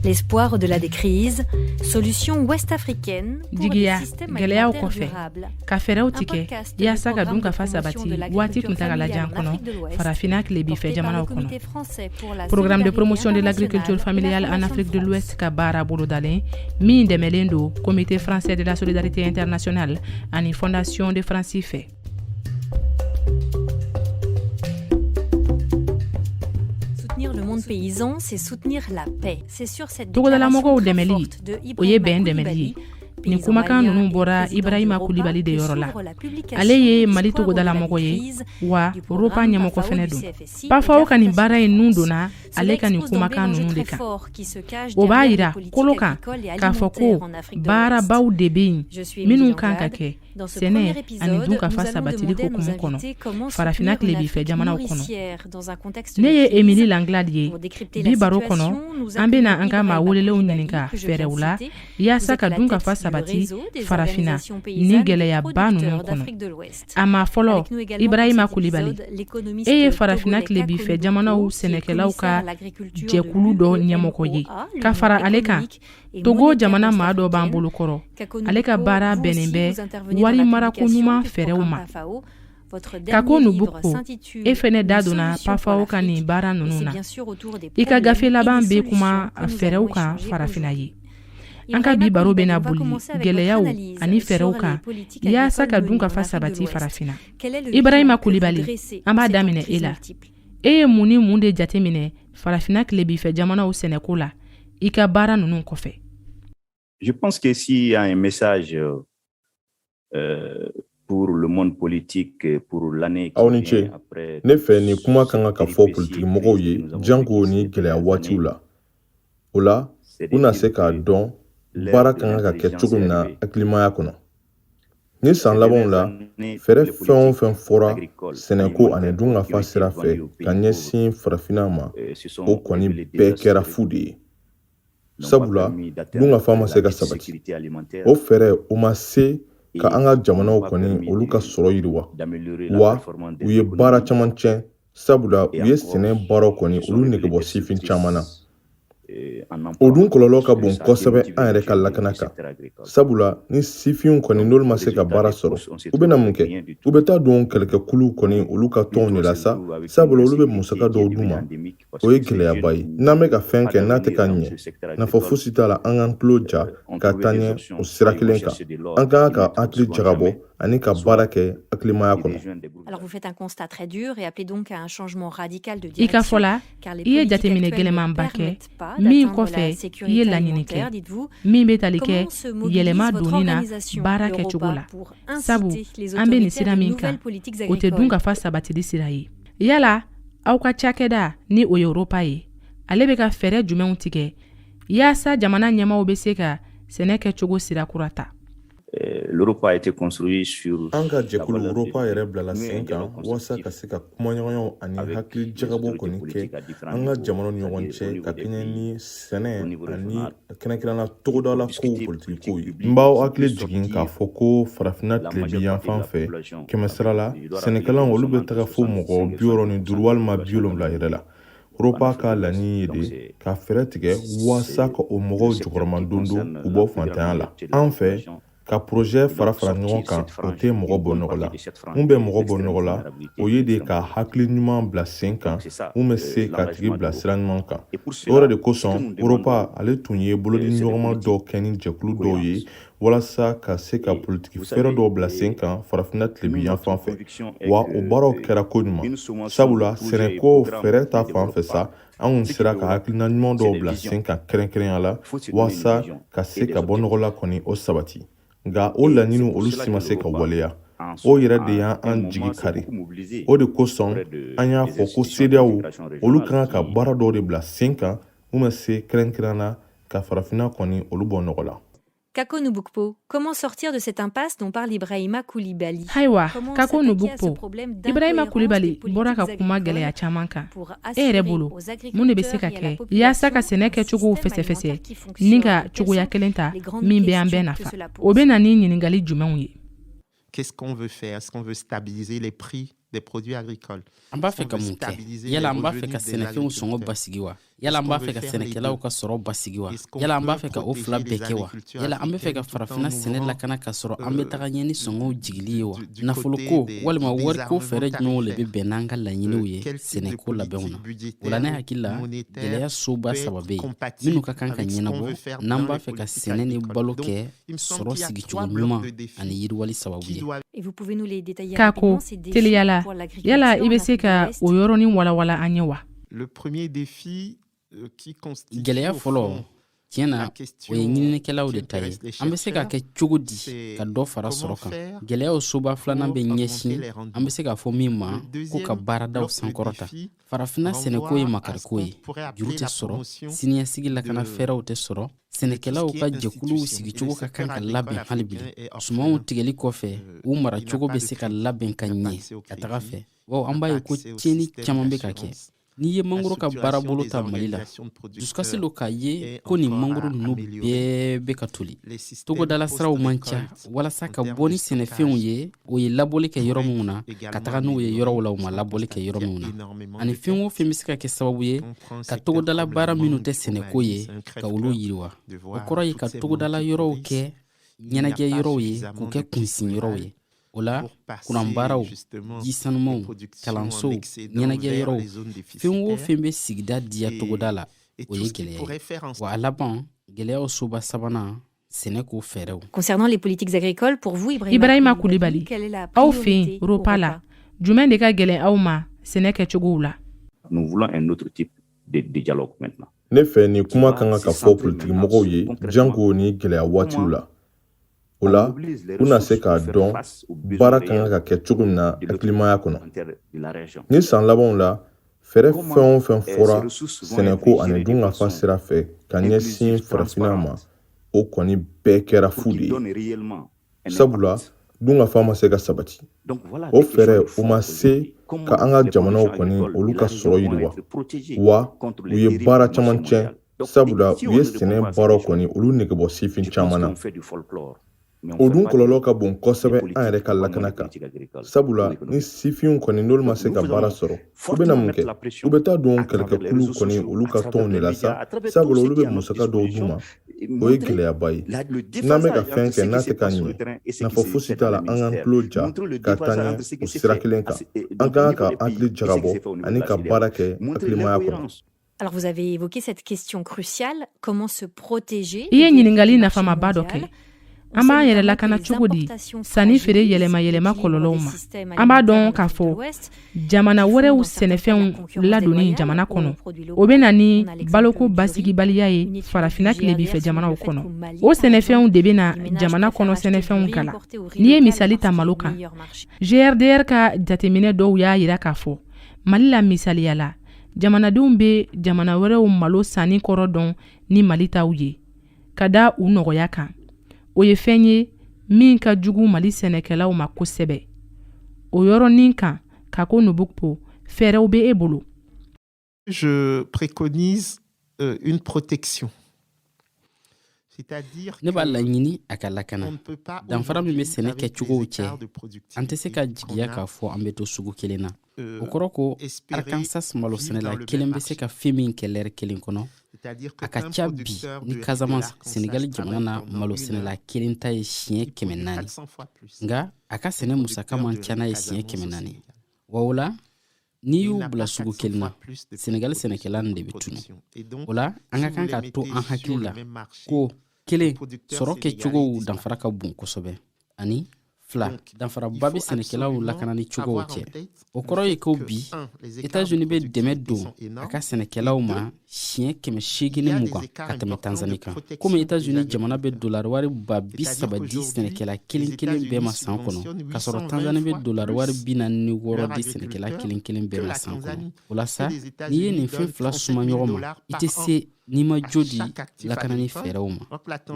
L'espoir au-delà des crises, solution ouest africaine jigiya gɛlɛyaw kɔfɛ ka fɛɛrɛw tigɛ yaasa ka dunkafa sabati waati kuntagalajan kɔnɔ farafina tilebifɛ jamanaw kɔnɔ programme de promotion de l'agriculture familiale en afrique de l'ouest ka baara bolodalen min dɛmɛlen don comité français de la solidarité internationale ani fondation de france fɛ paysan, c'est soutenir la paix. C'est sur cette déclaration très forte de Ibrahima Koulibaly togodalamɔgɔw dɛmɛli o ye bɛn dɛmɛli ye nin kumakan ninnu bɔra ibrahima kulibali de yɔrɔ la ale ye mali togodalamɔgɔ ye wa roppa ɲɛmɔgɔ fɛnɛ don pafao ka nin baara ye nun donna ale ka nin kumakan ninnu de kan o b'a yira kolo kan k'a fɔ ko baarabaw de be yen minnu kan ka kɛ Dans ce premier épisode, nous sɛnɛ ani dunkafa sabatili hukumu kɔnɔ farafina tilebifɛ jamanaw kɔnɔ ne ye emili langlad ye bi baro kɔnɔ an bena an ka maa welelenw ɲininka fɛɛrɛw la yaasa ka dunkafa sabati farafina ni gwɛlɛyaba nunu kɔnɔ a maa fɔlɔ ibrahima kulibali e ye farafina tilebifɛ jamanaw sɛnɛkɛlaw ka jɛkulu dɔ ɲɛmɔgɔ ye ka fara ale kan Togo jamana maa dɔ b'an bolo kɔrɔ ale ka baara bɛnnen bɛ warimarako ɲuman fɛɛrɛw ma kako nubukpo e fɛnɛ da donna pafao ka nin baara ninnu na i ka gafe laban bɛ kuma fɛɛrɛw kan farafinna ye an ka bi baro bɛna boli gɛlɛyaw ani fɛɛrɛw kan yaasa ka dunkafa sabati farafinna ibrahima kulibali an b'a daminɛ e la E ye mun ni mun de jateminɛ farafina tilebifɛ jamanaw sɛnɛko la i ka baara ninnu kɔfɛ Je pense que s'il y a un message euh, euh pour le monde politique euh, pour l'année aw ni ce ne fɛ nin kumakan kan ka fɔ politikimɔgɔw ye janko ni gɛlɛya waatiw la o la u na se k'a dɔn baara ka kan ka kɛ cogo min na hakilimaya kɔnɔ ni san labanw la fɛɛrɛ fɛn o fɛn fɔra sɛnɛko ani dunkafa sira fɛ ka ɲɛsin farafinna ma o kɔni bɛɛ kɛra fu de ye sabula dunkafa ma se ka sabati o fɛɛrɛw ma se ka an ka jamanaw kɔni olu ka sɔrɔ yiriwa wa u ye baara caman tiɲɛ sabula u ye sɛnɛ baaraw kɔni olu nege bɔ sifin caman na o dun kɔlɔlɔ ka bon kosɛbɛ an yɛrɛ ka lakana kan sabula ni sifinw kɔni n'olu ma se ka baara sɔrɔ u bɛna mun kɛ u bɛ taa don kɛlɛkɛkuluw kɔni olu ka tɔnw de la sa sabula olu bɛ musaka dɔw d'u ma o ye gɛlɛyaba ye n'an bɛ ka fɛn kɛ n'a tɛ ka ɲɛ nafa fosi t'a la an k'an tulo ja ka taa ɲɛ o sira kelen kan an ka kan ka hakili jagabɔ ani ka baara kɛ hakilimaya kɔnɔ Alors vous faites un constat très dur et appelez donc à un changement radical de i ka fɔ direction. la Car les i ye politiques jateminɛ actuelles ne gɛlɛmanba kɛ permettent pas min d'atteindre kɔfɛ la i ye sécurité laɲini kɛ alimentaire, dites-vous. min bɛ tali kɛ Comment se mobilise yɛlɛma votre donni na organisation, baara le ROPPA, kɛcogo la pour inciter sabu les an bɛ nin autorités à sira de min kan nouvelles politiques o tɛ dun agricoles? ka fa sabatili sira ye yala aw ka cakɛda ni o ye ROPPA ye ale bɛ ka fɛɛrɛ jumɛnw tigɛ yaasa jamana ɲɛmaaw bɛ se ka sɛnɛ kɛcogo sira kura ta An ka jɛkulu ROPPA yɛrɛ bilala sen kan walasa ka se ka kumaɲɔgɔnyaw ani hakili jagabɔ kɔni kɛ an ka jamana ɲɔgɔn cɛ ka kɛɲɛ ni sɛnɛ ani kɛrɛnkɛrɛnna togodala kow politikikow ye n b'aw hakili jigin k'a fɔ ko farafinna tilebin yanfan fɛ kɛmɛsira la sɛnɛkɛla olu bɛ taga fo mɔgɔ biwɔɔrɔ ni duuru walima biwolonwula yɛrɛ la ROPPA ka laɲini ye de ka fɛɛrɛ tigɛ walasa ka o mɔgɔw jukɔrɔmadondon k'u bɔ fantanya la an fɛ ka porozɛ fara fara ɲɔgɔn kan o tɛ mɔgɔ bɔ nɔgɔ la mun bɛ mɔgɔ bɔ nɔgɔ la o ye de ka hakili ɲuman bila sen kan mun bɛ se k'a tigi bila sira ɲuman kan o yɛrɛ de kosɔn ROPPA ale tun ye bolodiɲɔgɔnma dɔw kɛ ni jɛkulu dɔw ye walasa ka se ka politiki fɛɛrɛ dɔw bila sen kan farafinna tilebin yanfan fɛ wa o baaraw kɛra koɲuman sabula sɛnɛko fɛɛrɛ ta fan fɛ sa an kun sera ka hakilina ɲuman dɔw bila sen kan kɛrɛnkɛrɛnya la walasa ka se ka bɔnɔgɔla kɔni o sabati nka o laɲiniw olu si ma se ka waleya o yɛrɛ de y'an jigi kari o de kosɔn an y'a fɔ ko CEDEAO olu ka kan ka baara dɔw de bila sen kan mun bɛ se kɛrɛnkɛrɛn na Ka farafinna kɔni olu bɔ nɔgɔ la. Kako Nubukpo, comment sortir de cette impasse dont parle Ibrahima Coulibaly Ayiwa, Kako Nubukpo, Ibrahima Coulibaly bɔra ka kuma gɛlɛya caman kan. E yɛrɛ bolo, mun de bɛ se ka kɛ yaasa ka sɛnɛ kɛcogow fɛsɛfɛsɛ ni ka cogoya kelen ta min bɛ an bɛɛ nafa? O bɛ na ni ɲininkali jumɛnw ye? Qu'est-ce qu'on veut faire Est-ce qu'on veut stabiliser les prix des produits agricoles An b'a fɛ ka mun kɛ yala an b'a fɛ ka sɛnɛfɛnw sɔngɔ basigi wa yala an b'a fɛ ka sɛnɛkɛlaw ka sɔrɔ basigi wa yala an b'a fɛ ka o fila bɛɛ kɛ wa yala an bɛ fɛ ka farafina sɛnɛ lakana k'a sɔrɔ an bɛ taga ɲɛ ni sɔngɔw jigili ye wa nafoloko walima wariko fɛɛrɛ jumɛnw le bɛ bɛn n'an ka laɲiniw ye sɛnɛko labɛnw na o la ne hakili la gɛlɛya soba saba bɛ yen minnu ka kan ka ɲɛnabɔ n'an b'a fɛ ka sɛnɛ ni balo kɛ sɔrɔ sigicogo ɲuman ani yiriwali sababu ye k'a ko teliya la yala i bɛ se ka o yɔrɔnin walawala an ye wa euh, gɛlɛya fɔlɔ tiɲɛ na o ye ɲininikɛlaw de ta ye an bɛ se ka kɛ cogo di ka dɔ fara sɔrɔ kan gɛlɛyaw soba filanan bɛ ɲɛsin an bɛ se k'a fɔ min ma ko ka baaradaw sankɔrɔta farafinna sɛnɛko ye makariko ye juru tɛ sɔrɔ siniɲɛsigi lakana fɛɛrɛw tɛ sɔrɔ sɛnɛkɛlaw ka jɛkuluw sigicogo ka kan ka labɛn hali bi sumanw tigɛli kɔfɛ u maracogo bɛ se ka labɛn ka ɲɛ ka taga fɛ wa an b'a ye ko tiɲɛni caman bɛ ka kɛ n'i ye mangoro ka baarabolo ta mali la dusukasi lo k'a ye ko nin mangoro ninnu bɛɛ bɛ ka toli togodala siraw man ca walasa ka bɔ ni sɛnɛfɛnw ye o ye labɔli kɛ yɔrɔ minw na ka taga n'u ye yɔrɔw la u ma labɔli kɛ yɔrɔ minw na ani fɛn o fɛn bɛ se ka kɛ sababu ye ka togodala baara minnu tɛ sɛnɛko ye ka olu yiriwa o kɔrɔ ye ka togodala yɔrɔw kɛ ɲɛnajɛ yɔrɔw ye k'u kɛ kunsin yɔrɔw ye o la kuranbaaraw ji sanumanw kalansow ɲɛnajɛ yɔrɔw fɛn o fɛn bɛ sigida diya togoda la o ye gɛlɛya ye wa a laban gɛlɛyaw soba sabanan Concernant les politiques agricoles, pour vous, Ibrahim Ibrahima Coulibaly, quelle est la aw fɛ yen ROPPA la, jumɛn de ka gɛlɛn aw ma sɛnɛ kɛcogow la? Nous voulons un autre type de, de dialogue maintenant. Ne fɛ nin kuma ka kan ka fɔ politikimɔgɔw ye janko nin gɛlɛya waatiw la. O la, u na se k'a dɔn baara ka kan ka kɛ cogo min na hakilimaya kɔnɔ. Nin san labanw la, Fɛɛrɛ fɛn o fɛn fɔra sɛnɛko ani dunkafa sira fɛ ka ɲɛsin farafinna ma o kɔni bɛɛ kɛra fu de ye sabula dunkafa ma se ka sabati o fɛɛrɛw ma se ka an ka jamanaw kɔni olu ka sɔrɔ yiriwa wa u ye baara caman tiɲɛ sabula u ye sɛnɛ baaraw kɔni olu negebɔ sifin caman na O dun kɔlɔlɔ ka bon kosɛbɛ an yɛrɛ ka lakana kan sabula ni sifinw kɔni n'olu ma se ka baara sɔrɔ u bɛna mun kɛ u bɛ taa don kɛlɛkɛkuluw kɔni olu ka tɔnw de la sa sabula olu bɛ musaka dɔw d'u ma o ye gɛlɛyaba ye n'an bɛ ka fɛn kɛ n'a tɛ ka ɲɛ nafa fosi t'a la an k'an tulo ja ka taa ɲɛ o sira kelen kan an ka kan ka hakili jagabɔ ani ka baara kɛ hakilimaya kɔnɔ Alors vous avez évoqué cette question cruciale, comment se protéger I ye ɲininkali nafamaba dɔ kɛ. An b'an yɛrɛ lakana cogo di sanni feere yɛlɛma yɛlɛma kɔlɔlɔw ma? An b'a dɔn k'a fɔ jamana wɛrɛw sɛnɛfɛnw ladonni jamana kɔnɔ, o bɛ na ni baloko basigibaliya ye farafina tilebifɛ jamanaw kɔnɔ. O sɛnɛfɛnw de bɛ na jamana kɔnɔ sɛnɛfɛnw kala. N'i ye misali ta malo kan, GRDR ka jateminɛ dɔw y'a yira k'a fɔ Mali la misaliya la, jamanadenw bɛ jamana wɛrɛw malo sanni kɔrɔ dɔn ni mali taw ye ka da u nɔgɔya kan o ye fɛn ye min ka jugu mali sɛnɛkɛlaw ma kosɛbɛ o yɔrɔnin kan kako nubukpo fɛɛrɛw bɛ e bolo je préconise euh, une protection ne b'a laɲini a ka lakana danfara min bɛ sɛnɛ kɛcogow cɛ an tɛ se ka jigiya k'a fɔ an bɛ to sugu kelen na euh, o kɔrɔ ko arkansas malo sɛnɛla kelen bɛ se ka fɛn min kɛ lɛri kelen kɔnɔ a ka ca bi ni casamance senegali jamana na malo sɛnɛla kelen ta ye siɲɛ kɛmɛ naani nka a ka sɛnɛ musaka man ca n'a ye siɲɛ kɛmɛ naani wa o la n'i y'u bila sugu kelen na sɛnɛgali sɛnɛkɛla de bɛ tunu o la an ka kan k'a to an hakili la ko kelen sɔrɔ kɛcogow danfara ka bon kosɛbɛ ani fila danfaraba bɛ sɛnɛkɛlaw lakanani cogow cɛ o kɔrɔ ye ko bi etats-unis bɛ dɛmɛ don a ka sɛnɛkɛlaw ma siɲɛ kɛmɛ seegin ni mugan ka tɛmɛ tanzani kan komi etazini jamana bɛ dolariwari ba bi saba di sɛnɛkɛla kelen kelen bɛɛ ma san kɔnɔ k'a sɔrɔ tanzani bɛ dolariwari bi naani ni wɔɔrɔ di sɛnɛkɛla kelen kelen bɛɛ ma san kɔnɔ o la sa n'i ye nin fɛn fila suma ɲɔgɔn ma i tɛ se n'i ma jo di lakanani fɛɛrɛw ma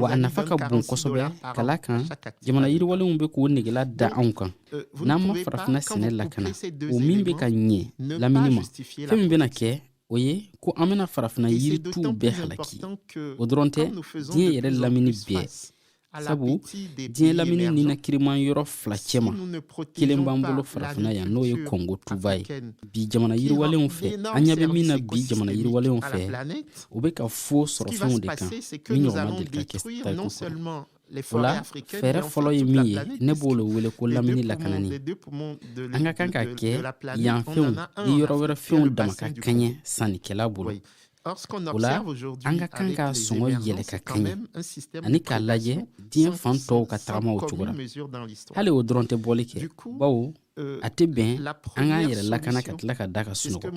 wa a nafa ka bon kosɛbɛ ka la kan jamana yiriwalenw bɛ k'u negela da anw kan euh, n'an ma farafina sɛnɛ lakana o min bɛ ka ɲɛ lamini ma fɛn min bɛna kɛ o ye ko an bɛna farafina yirituw bɛɛ halaki o dɔrɔn tɛ diɲɛ yɛrɛ lamini bɛɛ sabu diɲɛ lamini ninakiriman yɔrɔ fila cɛma kelen b'an bolo farafina yan n'o ye kongo tuba ye bi jamana yiriwalenw fɛ an ɲɛ bɛ min na bi jamana yiriwalenw fɛ u bɛ ka fo sɔrɔfɛnw de kan min ɲɔgɔn ma deli ka kɛ tariku kɔnɔ o la fɛɛrɛ fɔlɔ ye min ye ne b'o le wele ko lamini lakanani an ka kan k'a kɛ yan fɛnw ni yɔrɔ wɛrɛ fɛnw dama ka kɛɲɛ sannikɛla bolo o la an ka kan ka sɔngɔ yɛlɛ ka kɛɲɛ ani k'a lajɛ diɲɛ fan tɔw ka tagama o cogo la hali o dɔrɔn tɛ bɔli kɛ bawo Euh, a tɛ bɛn an k'an yɛrɛ lakana ka tila ka da ka sunɔgɔ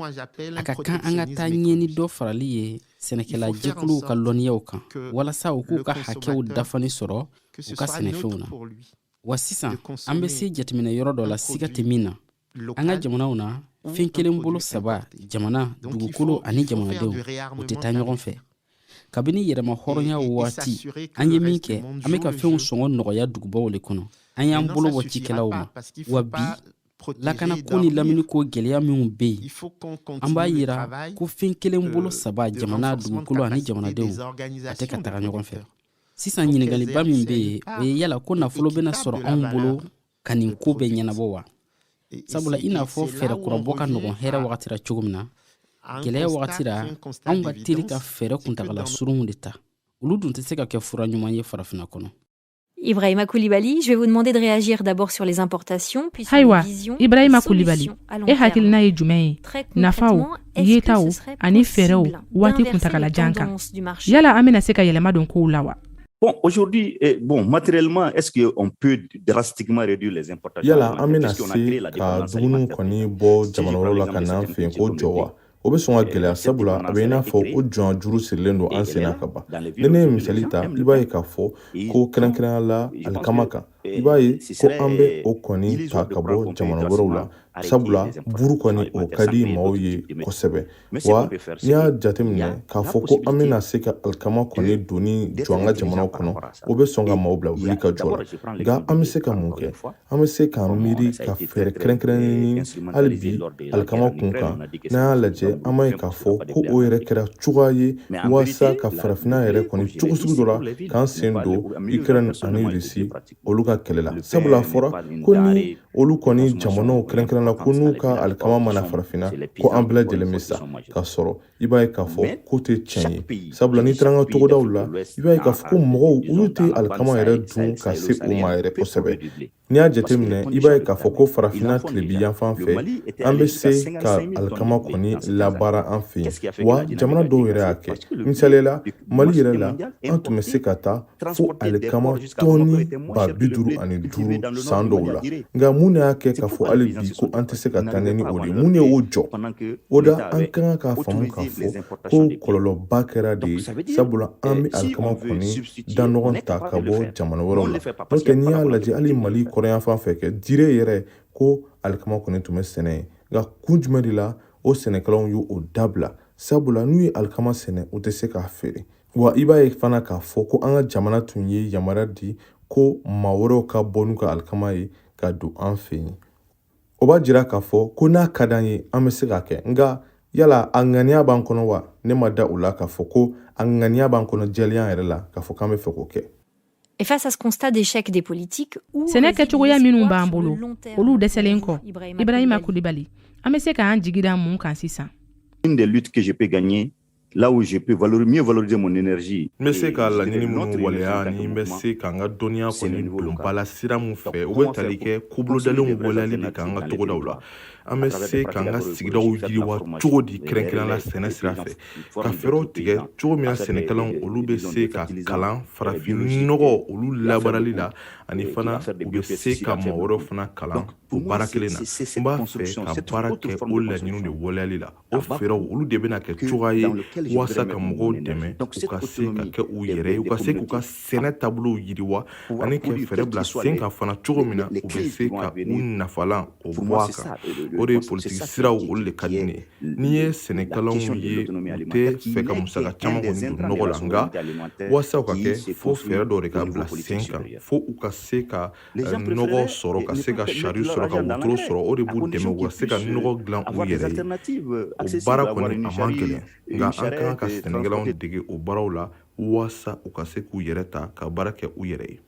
a ka kan an ka taa ɲɛ ni dɔ farali ye sɛnɛkɛla jɛkuluw ka lɔnniyaw kan walasa u k'u ka hakɛw dafani sɔrɔ u ka sɛnɛfɛnw na wa sisan an bɛ se jateminɛ yɔrɔ dɔ la siga tɛ min na an ka jamanaw na fɛn kelen bolo saba jamana dugukolo ani jamanadenw u tɛ taa ɲɔgɔn fɛ kabini yɛrɛmahɔrɔnya waati an ye min kɛ an bɛ ka fɛnw sɔngɔ nɔgɔya dugubaw le kɔnɔ an y'an bolo bɔ cikɛlaw ma wa bi lakana ko ni lamini ko gɛlɛya minw bɛ yen an b'a yira ko fɛn kelen euh, bolo saba jamana dugukolo ani jamanadenw a tɛ ka taga ɲɔgɔn fɛ sisan ɲiningaliba min bɛ yen o ye yala ko nafolo bɛna sɔrɔ anw bolo ka nin ko bɛɛ ɲɛnabɔ wa sabula i n'a fɔ fɛɛrɛ kurabɔ ka nɔgɔn hɛrɛ wagati ra cogo min na gɛlɛya wagati ra anw ka teli ka fɛɛrɛ kuntagala surunw de ta olu dun tɛ se ka kɛ fura ɲuman ye farafina kɔnɔ Ibrahima Koulibaly, je vais vous demander de réagir d'abord sur les importations, puis sur Ayiwa, les visions Ibrahima Koulibaly, e hakilina ye jumɛn ye nafaw yetaw ani fɛɛrɛw waati kuntagala jan kan yala an bɛna se ka yɛlɛma don kow la wa Bon, aujourd'hui, eh, bon, matériellement, est-ce qu'on peut drastiquement réduire les importations Yala, an bɛna se ka dumuniw kɔni bɔ jamana wɛrɛw la ka na an fɛ yen k'o jɔ wa o bɛ sɔn ka gɛlɛya sabula a bɛ i n'a fɔ o jɔn juru sirilen don an sen na ka ban ni ne ye misali ta i b'a ye k'a fɔ ko kɛrɛnkɛrɛnya la alikama kan i b'a ye ko an bɛ o kɔni ta ka bɔ jamana wɛrɛw la sabula buru kɔni o ka di maaw ye kosɛbɛ wa n'i y'a jateminɛ k'a fɔ ko an bɛna se ka alikama kɔni donni jɔ an ka jamana kɔnɔ o bɛ sɔn ka maaw bila wuli ka jɔ la nka an bɛ se ka mun kɛ an bɛ se k'an miiri ka fɛɛrɛ kɛrɛnkɛrɛnnen ɲini hali bi alikama kun kan n'an y'a lajɛ an b'a ye k'a fɔ ko o yɛrɛ kɛra cogoya ye walasa ka farafinna yɛrɛ kɔni cogo sugu dɔ la k'an sen don ukraine ani russie olu ka kɛlɛ la sabula a fɔra ko ni olu kɔni jamanaw kɛrɛnkɛrɛn la ko n'u ka alikama ma na farafinna ko an bɛɛ lajɛlen bɛ sa ka sɔrɔ i b'a ye k'a fɔ k'o tɛ tiɲɛ ye sabula n'i taara an ka togodaw la i b'a ye k'a fɔ ko mɔgɔw olu tɛ alikama yɛrɛ dun ka se o ma yɛrɛ kosɛbɛ n'i y'a jateminɛ i b'a ye k'a fɔ ko farafinna tilebi yanfan fɛ an bɛ se ka alikama kɔni labaara an fɛ yen wa jamana dɔw yɛrɛ y'a kɛ misaliya la mali yɛrɛ la an tun bɛ se ka taa fo alikama tɔni ba bi duuru ani duuru san dɔw la nka mun y'a kɛ k'a fɔ hali bi ko an tɛ se ka taa ɲɛ ni o de mun ye o jɔ o da an ka kan k'a faamu k'a fɔ ko kɔlɔlɔba kɛra de ye sabula an bɛ alikama kɔni da nɔgɔn ta ka bɔ jamana wɛrɛw la n'o tɛ n'i y'a lajɛ hali mali kɔrɔn yanfan fɛ kɛ dire yɛrɛ ko alikama kɔni tun bɛ sɛnɛ yen nka kun jumɛn de la o sɛnɛkɛlaw y'o dabila sabula n'u ye alikama sɛnɛ u tɛ se k'a feere wa i b'a ye fana k'a fɔ ko an ka jamana tun ye yamaruya di ko maa wɛrɛw ka bɔ n'u ka alikama ye ka don an fɛ yen o b'a jira k'a fɔ ko n'a ka d'an ye an bɛ se k'a kɛ nka yala a ŋaniya b'an kɔnɔ wa ne ma da o la k'a fɔ ko a ŋaniya b'an kɔnɔ jɛlenya yɛrɛ la k'a fɔ k'an bɛ fɛ k'o kɛ Et face à ce constat d'échec des politiques, sɛnɛ kɛcogoya minnu b'an bolo olu dɛsɛlen kɔ ibrahima kulibali an bɛ se k'an jigi da mun kan sisan une des luttes que je peux gagner Là où je peux valoriser, mieux valoriser mon énergie. N bɛ se ka laɲini minnu waleya ni n bɛ se ka n ka dɔnniya kɔni don ba la sira min fɛ u bɛ tali kɛ ko bolodalenw waleyali de kan an ka togodaw la an bɛ se ka an ka sigidaw yiriwa cogo di kɛrɛnkɛrɛn la sɛnɛ sira fɛ ka fɛɛrɛw tigɛ cogo min na sɛnɛkɛlaw olu bɛ se ka kalan farafinnɔgɔ olu labaarali la ani fana u bɛ se ka mɔgɔ wɛrɛw fana kalan o baara kelen na n b'a fɛ ka baara kɛ o laɲiniw de waleyali la O fɛɛrɛw olu de bɛna kɛ cogoya ye walasa ka mɔgɔw dɛmɛ u ka se ka kɛ u yɛrɛ ye u ka se k'u ka sɛnɛ taabolow yiriwa ani ka fɛɛrɛ bila sen kan fana cogo min na u bɛ se ka u nafalan o bɔ a kan o de ye politiki siraw olu de ka di ne ye n'i ye sɛnɛkɛlaw ye u tɛ fɛ ka musaka caman kɔni don nɔgɔ la nka walasa u ka kɛ fo fɛɛrɛ dɔw de ka bila sen kan fo u ka se ka nɔgɔ sɔrɔ ka se ka sari sɔrɔ ka wotoro sɔrɔ o de b'u dɛmɛ u ka se ka nɔgɔ dilan u yɛrɛ ye o baara kɔni a man gɛlɛn nka an ka kan ka sɛnɛkɛlaw dege o baaraw la waasa u ka se k'u yɛrɛ ta ka baara kɛ u yɛrɛ ye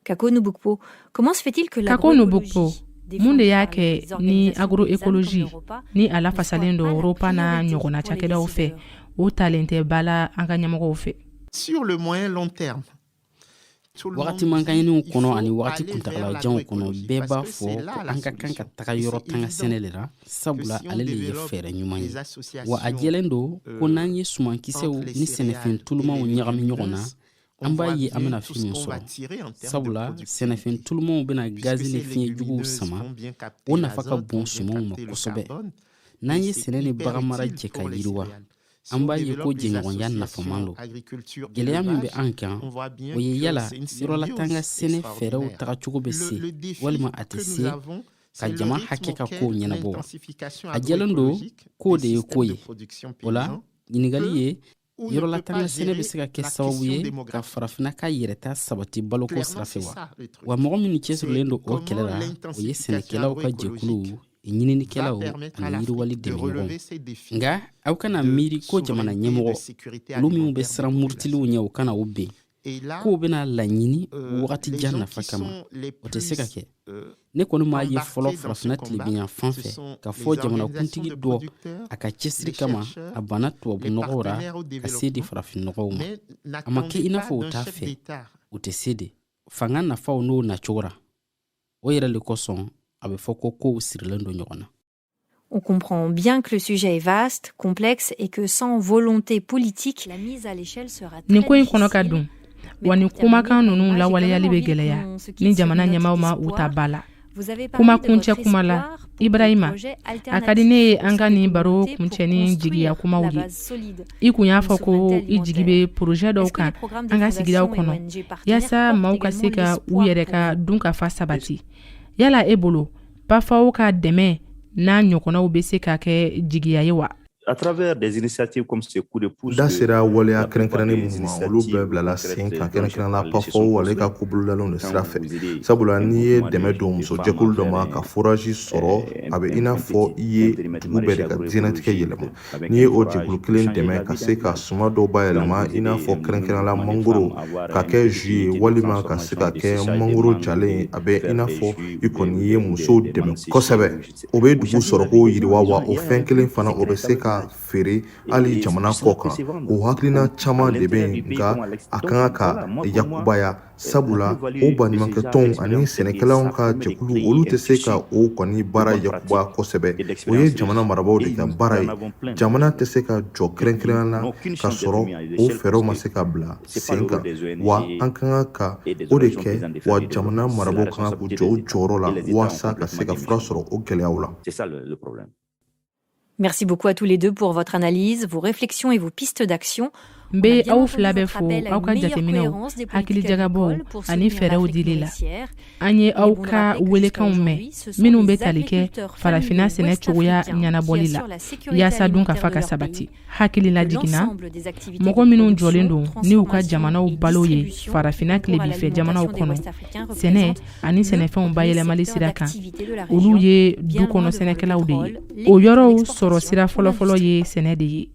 Kako Nubukpo, comment se fait-il que Kako Nubukpo, mun de y'a kɛ ni agroécologie ni a lafasalen don ROPPA n'a ɲɔgɔnna cakɛdaw fɛ o talen tɛ ba la an ka ɲɛmɔgɔw fɛ sur le moyen long terme wagati mankanɲiniw kɔnɔ ani wagati kuntagalajanw kɔnɔ bɛɛ b'a fɔ ko an ka kan ka taga yɔrɔ tanga sɛnɛ de la sabula ale le ye fɛɛrɛ ɲuman ye wa a jɛlen don ko n'an ye sumankisɛw ni sɛnɛfɛn tulumaw ɲagami ɲɔgɔn na an b'a ye an bɛna fɛn min sɔrɔ sabula sɛnɛfɛn tulumaw bɛna gazi ni fiɲɛ juguw sama o nafa ka bon sumanw ma kosɛbɛ n'an ye sɛnɛ ni baganmara jɛ ka yiriwa an b'a ye ko jɛɲɔgɔnya nafaman don gwɛlɛya min bɛ an kan o ye yala yɔrɔlatanga sɛnɛ fɛɛrɛw tagacogo bɛ se walima a tɛ se ka jama hakɛ ka kow ɲɛnabɔ wa a jɛlen don k'o de ye ko ye o la ɲininkali ye yɔrɔlatanga sɛnɛ bɛ se ka kɛ sababu ye ka farafina ka yɛrɛta sabati baloko sira fɛ wa wa mɔgɔ minnu cɛsirilen don o kɛlɛ la o ye sɛnɛkɛlaw ka jɛkuluw ɲininikɛlaw ani yiriwali dɛmɛɲɔgɔn nka aw kana miiri ko jamana ɲɛmɔgɔ olu minw bɛ siran murutiliw ɲɛ u kana u ben k'u bɛna laɲini euh, wagati jan nafa kama o tɛ se ka kɛ euh, ne kɔni m'a ye fɔlɔ farafina tilebinyanfan fɛ k'a fɔ jamanakuntigi dɔ a ka cɛsiri kama a banna tubabu nɔgɔw ra ka se di farafinnɔgɔw ma a ma kɛ i n'a fɔ u t'a fɛ u tɛ se de fanga nafaw n'o nacogo ra o yɛrɛ le kosɔn a bɛ fɔ ko kow sirilen don ɲɔgɔn na On comprend bien que le sujet est vaste, complexe et que sans volonté politique, la mise à l'échelle sera très difficile. nin ko in kɔnɔ ka dun wa nin kumakan ninnu lawaleyali bɛ gɛlɛya ni jamana ɲɛmaaw ma u ta ba la kuma kuncɛ kuma la Ibrahima a ka di ne ye an ka nin baro kuncɛ ni jigiya kumaw ye i kun y'a fɔ ko i jigi bɛ porozɛ dɔw kan an ka sigidaw kɔnɔ yaasa maaw ka se ka u yɛrɛ ka dunkafa sabati yala e bolo PAFAO ka dɛmɛ n'a ɲɔgɔnnaw bɛ se ka kɛ jigiya ye wa A travers des initiatives comme ces coups de pouce da sera waleya kɛrɛnkɛrɛnnen minnu ma olu bɛɛ bilala sen kan kɛrɛnkɛrɛnnenya la PAFAO ale ka ko bolodalenw de sira fɛ sabula n'i ye dɛmɛ don muso jɛkulu dɔ ma ka foraji sɔrɔ a bɛ i n'a fɔ i ye dugu bɛɛ de ka diɲɛnatigɛ yɛlɛma n'i ye o jɛkulu kelen dɛmɛ ka se ka suma dɔw bayɛlɛma i n'a fɔ kɛrɛnkɛrɛnnenya la mangoro ka kɛ jus ye walima ka se ka kɛ mangoro jalen a bɛ i n'a fɔ i kɔni ye musow dɛmɛ kosɛbɛ o bɛ dugu sɔrɔko yiriwa wa o fɛn kelen fana o bɛ se ka feere hali jamana kɔ kan o hakilina caman de bɛ yen nka a ka kan ka yakubaya sabula o baɲumankɛtɔnw ani sɛnɛkɛlaw ka jɛkulu olu tɛ se ka o kɔni baara yakuba kosɛbɛ o ye jamana marabagaw de ka baara ye jamana tɛ se ka jɔ kɛrɛ kelen na ka sɔrɔ o fɛɛrɛw ma se ka bila sen kan wa an ka kan ka o de kɛ wa jamana marabagaw ka kan k'u jɔ u jɔyɔrɔ la walasa ka se ka fura sɔrɔ o gɛlɛyaw la Merci beaucoup à tous les deux pour votre analyse, vos réflexions et vos pistes d'action. n bɛ aw fila bɛɛ fo aw ka jateminɛw hakilijagabɔw ani fɛɛrɛw dili la An ye aw ka weelekanw mɛn minnu bɛ tali kɛ farafinna sɛnɛ cogoya ɲɛnabɔli la yasa dunkafa ka sabati hakililajigin na mɔgɔ minnu jɔlen don ni u ka jamanaw balo ye farafinna tilebin fɛ jamanaw kɔnɔ sɛnɛ ani sɛnɛfɛnw bayɛlɛmali sira kan olu ye du kɔnɔ sɛnɛkɛlaw de ye o yɔrɔw sɔrɔ sira fɔlɔfɔlɔ ye sɛnɛ de ye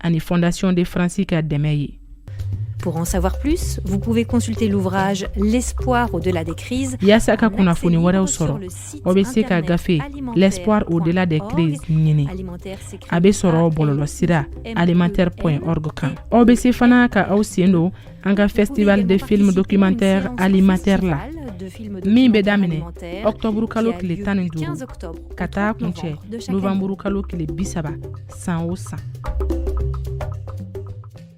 ani Fondation de France ka dɛmɛ ye. Pour en savoir plus, vous pouvez consulter l'ouvrage L'espoir au-delà des crises. Yasa ka kunnafoni wɛrɛw sɔrɔ, aw bɛ se ka gafe L'espoir au-delà des crises ɲini. A bɛ sɔrɔ bɔlɔlɔsira alimenterre.org kan. Aw bɛ se fana ka aw sen don an ka festival de films documentaires Alimenterre la min bɛ daminɛ ɔktɔburu kalo tile tan ni duuru ka taa kuncɛ novanburu kalo tile bisaba san o san